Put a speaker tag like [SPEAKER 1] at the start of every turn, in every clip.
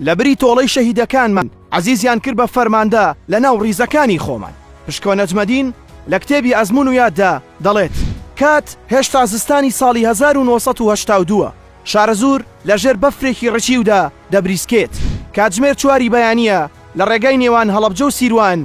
[SPEAKER 1] لەبری تۆڵەی شەهیدەکانمان عەزیزیان کرد بە فەرماندە لە ناو ڕیزەکانی خۆمان. پشکۆ نەجمەدین لە کتێبی ئەزموون و یاددا دەڵێت، کات هێشتا زستانی ساڵی هەزار و نۆ سەد و هەشتا و دوو ە، شارەزوور لە ژێر بەفرێکی ڕچیودا دەبریسکێت، کاتژمێر چواری بەیانییە، لە ڕێگای نێوان هەڵەبجە و سیروان،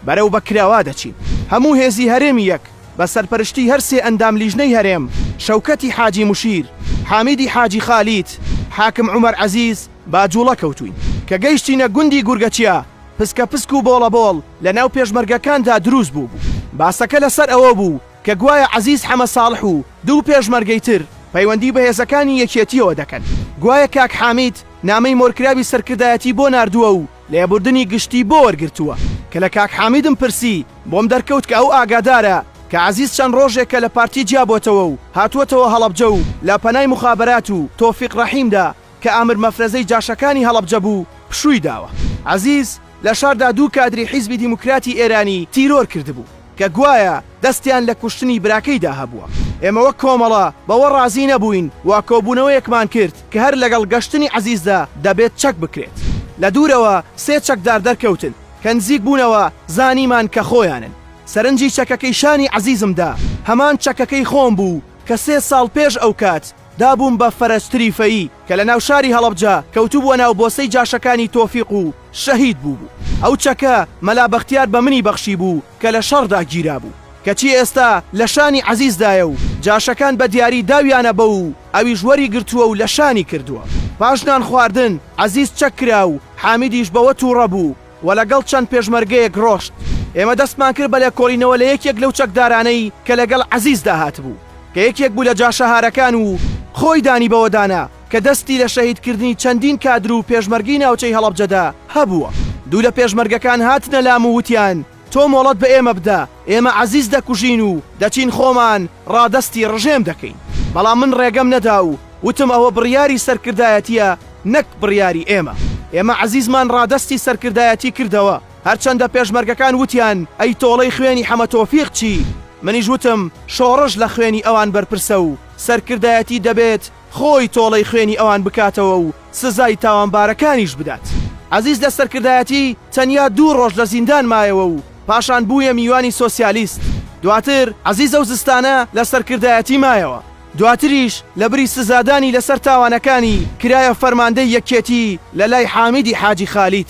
[SPEAKER 1] بەرەو بەکرەوە دەچین. هەموو هێزی هەرێمی یەک بە سەرپەرشتی هەر سێ ئەندام لیژنەی هەرێم، شەوکەتی حاجی مشیر، حامیدی حاجی خالید، حاکم عومەر عەزیز، با جوڵە کەوتووین کە گەیشتینە گوندی گورگەچیا، پسکە پسک و بۆڵە بۆڵ لە ناو پێشمەرگەکاندا دروست بووبوو. باسەکە لە سەر ئەوە بوو کە گوایە عەزیز حەمە ساڵح و دوو پێشمەرگەی تر پەیوەندی بە هێزەکانی یەکێتییەوە دەکەن، گوایە کاک حامید نامەی مۆرکراوی سەرکردایەتی بۆ ناردووە و لێبوردنی گشتی بۆ وەرگرتووە، کە لە کاک حامیدم پرسی بۆم دەرکەوت کە ئەو ئاگادارە کە عەزیز چەند ڕۆژێکە لە پارتی جیابۆتەوە و هاتووەتەوە هەڵەبجە و لە پەنای موخابەرات و تۆفیق ڕەحیمدا کە ئامر مەفرەزەی جاشەکانی هەڵەبجە بوو پشووی داوە. عەزیز لە شاردا دوو کادری حیزبی دیموکراتی ئێرانی تیرۆر کردبوو. کە گوایە دەستیان لە کوشتنی براکەیدا هەبووە. ئێمە وەک کۆمەڵە بەوە ڕازی نەبووین و کۆبوونەوەیەکمان کرد کە هەر لەگەڵ گەشتنی عەزیزدا دەبێت چەک بکرێت. لە دوورەوە سێ چەکدار دەرکەوتن، کە نزیک بوونەوە زانیمان کە خۆیانن. سەرنجی چەکەکەی شانی عەزیزم دا، هەمان چەکەکەی خۆم بوو کە سێ ساڵ پێش ئەوکات دا بووم بە فەرەجتری فەیی کە لە ناوشاری هەڵەبجە کەوتبووە ناو بۆسەی جاشەکانی تۆفیق و شەهید بووبوو. ئەو چەکە مەلا بەختیار بە منی بەخشیبوو کە لە شەڕدا گیرابوو. کەچی ئێستا لە شانی عەزیزدایە و جاشەکان بە دیاری داویانە بەو و ئەویش وەریگرتووە و لە شانی کردووە. پاش نانخواردن عەزیز چەک کرا و حامیدیش بەوە تووڕە بوو. و لەگەڵ چەند پێشمەرگەیەک ڕۆشت، ئێمە دەستمان کرد بە لێکۆڵینەوە لە یەکێک لەو چەکدارانەی کە لەگەڵ عەزیزدا هاتبوو، کە یەکێک بوو لە جاشەهارەکان و خۆی دانی بەوەدانا کە دەستی لە شەهیدکردنی چەندین کادر و پێشمەرگەی ناوچەی هەڵەبجەدا هەبووە. دوو لە پێشمەرگەکان هاتنە لام و وتیان تۆ مۆڵەت بە ئێمە بدە، ئێمە عەزیز دەکوژین و دەچین خۆمان ڕادەستی ڕژێم دەکەین، بەڵام من ڕێگەم نەدا و وتم ئەوە بڕیاری سەرکردایەتییە نەک بڕیاری ئێمە. ئێمە عەزیزمان ڕادەستی سەرکردایەتی کردەوە، هەرچەندە پێشمەرگەکان وتیان ئەی تۆڵەی خوێنی حەمە تۆفیق چی؟ منیش وتم شۆڕش لە خوێنی ئەوان بەرپرسە و سەرکردایەتی دەبێت خۆی تۆڵەی خوێنی ئەوان بکاتەوە و سزای تاوانبارەکانیش بدات. عەزیز لە سەرکردایەتی تەنیا دوو ڕۆژ لە زیندان مایەوە و پاشان بوویە میوانی سۆسیالیست. دواتر عەزیز ئەو زستانە لە سەرکردایەتی مایەوە. دواتریش لەبری سزادانی لەسەر تاوانەکانی، کرایە فەرماندەی یەکێتی لەلای حامیدی حاجی خالید.